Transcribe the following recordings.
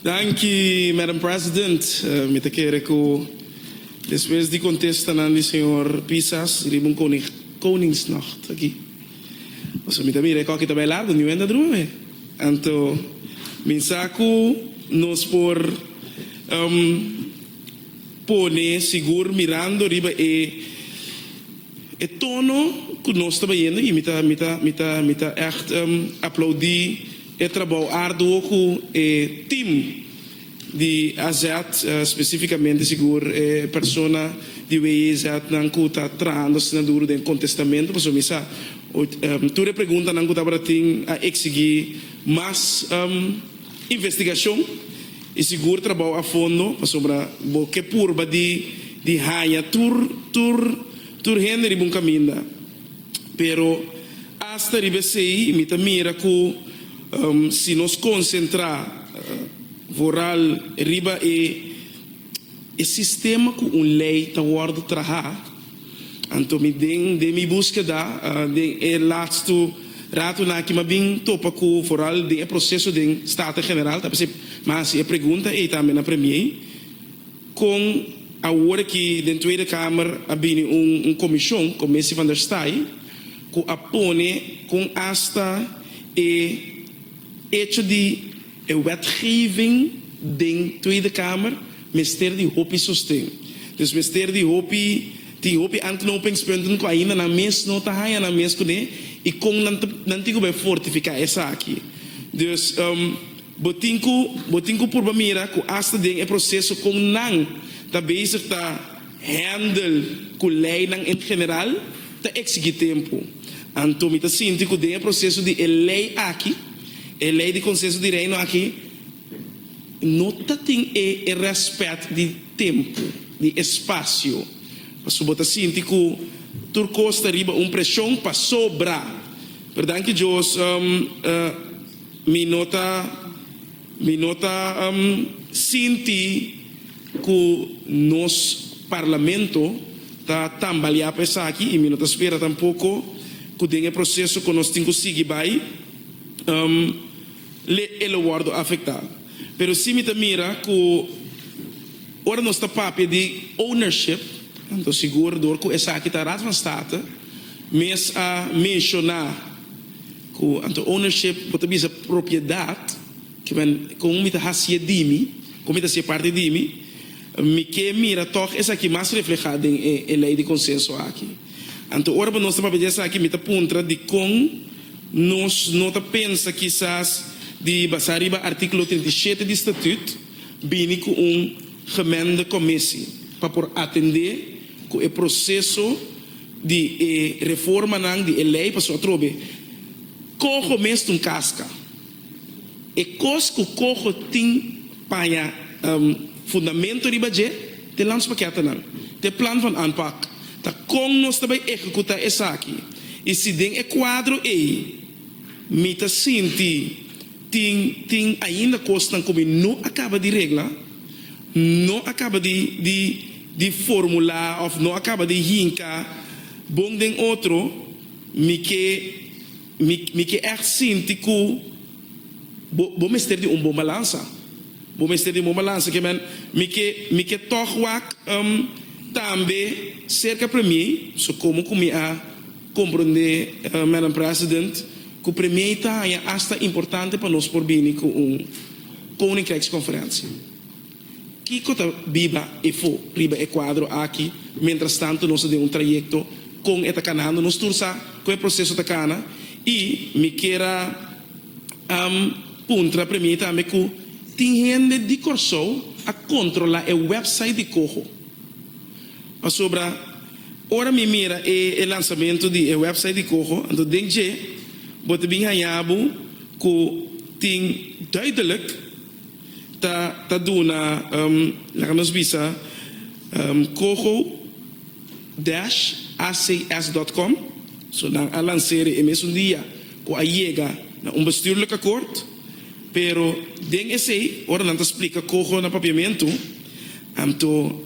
Danki, Madam President. Mi ta kere ku despues di kontesta nan di señor Pisas riba un Koningsnacht aki, pasobra mi ta mira e kòki ta bai largu, niu hende a drumi. Anto mi sa ku nos por pone sigur mirando riba e. E tono ku nos ta bayendo i mi ta mi ta mi ta mi ta ègt aplaudí e trabou arduo ku e tim di AZ, spesífikamente sigur e persona di WIZ nan ku ta trahando asina duru den kontestamentu pasobra mi sa tur e preguntanan ku tabata tin a eksigí mas investigashon. I sigur trabao a fondo, pasobra bo ke purba di di haña tur tur tur hende riba un kaminda. Pero asta riba esei mi ta mira ku si nos konsentrá vooral riba e e sistema ku un lei ta wòrdu trahá, Anto mi den den mi buskeda den e latsto ratonan aki m'ha bin topa ku foral den e proseso den Staten General ta p'esei m'a hasi e pregunta ei tambe na Premier kon awor aki den Tweede Kamer a bini un un komishon, Commissie van der Staaij, ku a pone kon asta e echo di. E wetgeving den Tweede Kamer mester di hopi sosten. Dus mester di hopi, tin hopi antknopingspunten ku ainda nan mes no ta haña nan mes kuné i kon nan ta nan tin ku bai fortifiká esaki. Dus, bo tin ku bo tin ku purba mira ku asta den e proseso kon nan ta bezig ta. Handel ku leinan en general ta eksigi tempu. Anto mi ta sinti ku den e proseso di e lei aki, e lei di Konsenso di Reino aki, no ta tin e e rèspèt di tempu, di espasio. Pasobra bo ta sinti ku tur kos ta riba un preshon pasobra. Pero danki Dios mi no ta. Mi no ta sinti ku nos parlamento ta tambaleá pa esaki i mi no ta spera tampoko ku den e proseso ku nos tin ku sigui bai le e lo wòrdu afektá. Pero si mi ta mira ku ora nos ta papia di ownership anto sigur dor ku esaki ta Raad van State mes a menshoná. Cu anto ownership bo ta bisa propiedad, que men con mi ta haci'e dimi, con mi ta haci'e parti dimi, mi ke mira toch esaki mas refleha den e ley di consenso aki. Anto ora bo nos ta papia di esaki mi ta puntra dicon nos no ta pensa kisas di basa riba articulo trinta i shete di statut bini cu un gemengde comisie pa por atende Cu e proceso di e reformanan di e ley pasobra atrobe coho mes tin casca. E cos cu coho tin paña fundamento riba dje t'e landspakettanan, t'e plan van aanpak, ta con nos ta bay ehecuta esaki y si den e cuadro ey mi ta sinti tin tin ainda cosnan cu mi no a caba di regla, no a caba di. di formula of no a caba di hinca bon den otro, mi ke mi ke echt sinti cu bo bo mester di un bon balansa. Bo mester di un bon balansa ke men mi ke mi ke tog wak um tambe cerca premier, so como cu mi a comprende um Madam President cu premier ta haya hasta importante pa nos por bini cu un Koninkrijksconferentie. Kiko ta biba efo riba e kuadro aki mientras tanto nos ta den un trayekto, kon e ta kanando nos tur sa ku e proseso ta kana i mi kier a puntra premier tambe ku tin hende di Kòrsou a kontrolá e wèpsait di Coho pasobra ora mi mira e lansamentu di e wèpsait di Coho anto den dje bo ta bin haña bo ku tin duidelik Ta ta duna um laga nos bisa um coho dash acs dot com so nan a lansere e mesun dia cu a yega na un bestuurlijk akkoord pero den esey ora nan ta splika coho na papiamentu anto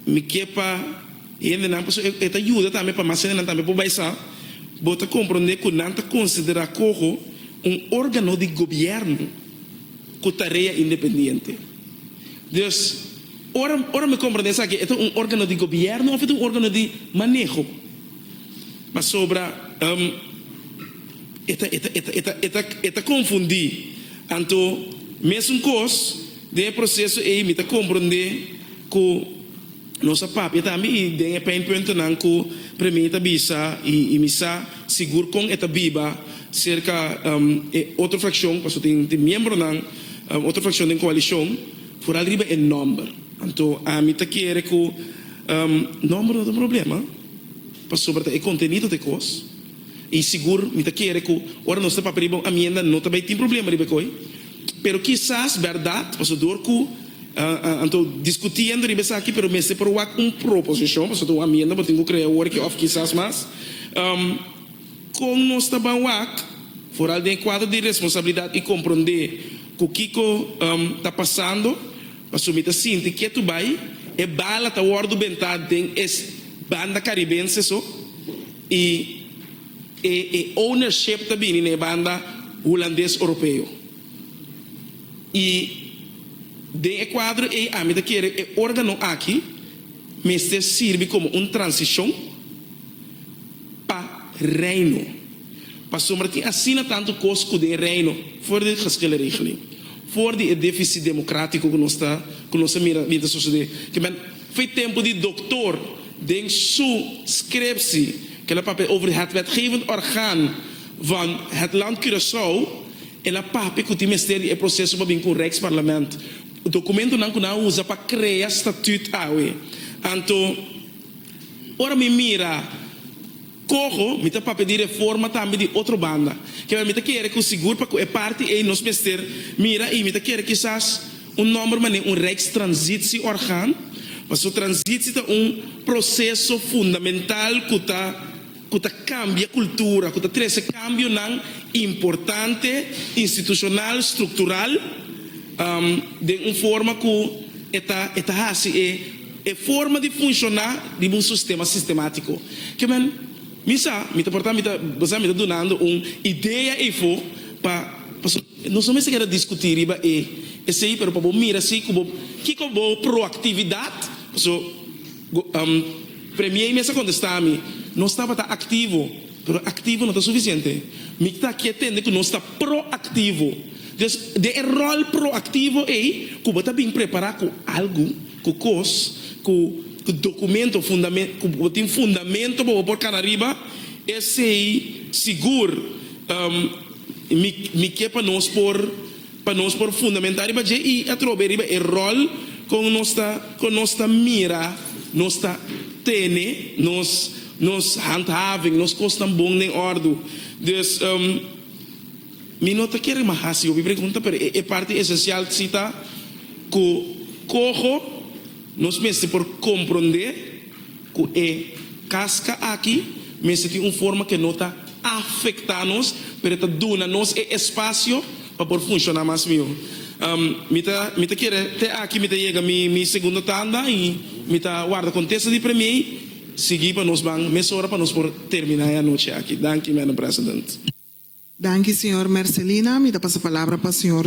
Mi ke pa hendenan pasobra e e ta yuda tambe pa mas hendenan tambe por bai sa. Bo ta komprondé ku nan ta konsiderá koho un órgano di gobièrnu ku tarea independiente. Dus, ora ora mi komprondé esaki e ta un órgano di gobièrnu òf e ta un órgano di maneho? Pasobra e ta e ta e ta e ta e ta e ta konfundí. Anto, mesun kos, den e proseso ei mi ta komprondé. Ku nos a papia tambe i den e pain puntonan ku Premier ta bisa i mi sa sigur kon e ta biba serka e otro frakshon paso tin miembronan otro frakshon den koalishon foral riba e nòmber. Anto ami ta kere ku nòmber no ta un problema pasobra ta e kontenido ta e kos i sigur mi ta kere ku ora nos ta papia riba un amienda no ta bai tin problema riba e koi. Pero kisas bèrdat, pasobra ku anto diskutiendo riba esaki, pero mester por wak un proposishon, pasobra ta un amienda bo tin ku krea awor òf kisas mas. Kon nos ta ban wak foral den e kuadro di responsabilidat i komprondé ku kiko ta pasando? Pasobra mi ta sinti ke tu bai e bala ta wòrdu bentá den e banda karibense so i. E e ownership ta bini na e banda Hulandes Oropeo. I den e kuadro ei ami ta kere e organo aki mester sirbi komo un transishon pa Reino. Pasobra tin asina tantu kos ku den Reino for di geskil e regeling, for di e defisit demokratiko ku nos ta ku nos ta mira bin ta sosode, kimen. Fo'i tempu di doktor, den su scriptie, ke la papia over het wetgevend orgaan van het land Curaçao, el a papia ku tin mester di e proseso pa bin ku un Rijksparlament. Dokumentunan ku nan a usa pa krea statuut awe. Anto, ora mi mira. Coho, mi ta papia di reforma tambe di otro banda. Kema mi ta kere cu sigur pa cu e parti ey nos mester mira y mi ta kere kisas un nomber mane un Rijkstransitieorgaan, pasobra transitie ta un proceso fundamental cu ta cu ta cambia cultura, cu ta trece cambionan importante institucional, structural, den un forma cu e ta e ta haci e. E forma di funshoná riba un sustema sistemático. Ke men, mi sa, mi ta portá, mi ta basa mi ta dunando un idea eifo pa, pasobra nos no mester keda diskutí riba e esei, pero pa bo mira si ku bo, kiko bo proaktividat, paso, go, Premiei mester kontestá mi, nos tabata aktivo. Pero aktivo no ta sufisiente. Mic ta aki a tende ku nos ta proaktivo. Des den e ròl proaktivo ei ku bo ta bin prepará ku algu, ku kos, ku dokumento, fundamento, ku bo tin fundamento pa bo por kana riba, esei sigur, mic, mi ke pa nos por. Pa nos por fundamentá riba dje i atrobe riba e ròl kon nos ta kon nos ta mira nos ta tene nos nos handhaving, nos kosnan bon den òrdu. Dus um mi no ta kere mas hasi hopi pregunta pero e parti esensial si ta ku koho nos mester por komprondé. Ku e kaska aki mester tin un forma ku e no ta afektá nos, pero e ta duna nos e espasio pa por funshoná mas mihó. Mi ta mi ta kere te aki mi ta yega mi mi segundo tanda i mi ta warda kontesta di premie i sigui pa nos ban mesora pa nos por terminá e anochi aki. Danki, Madam President. Danki, señor Mercelina. Mi ta pasa palabra pa señor.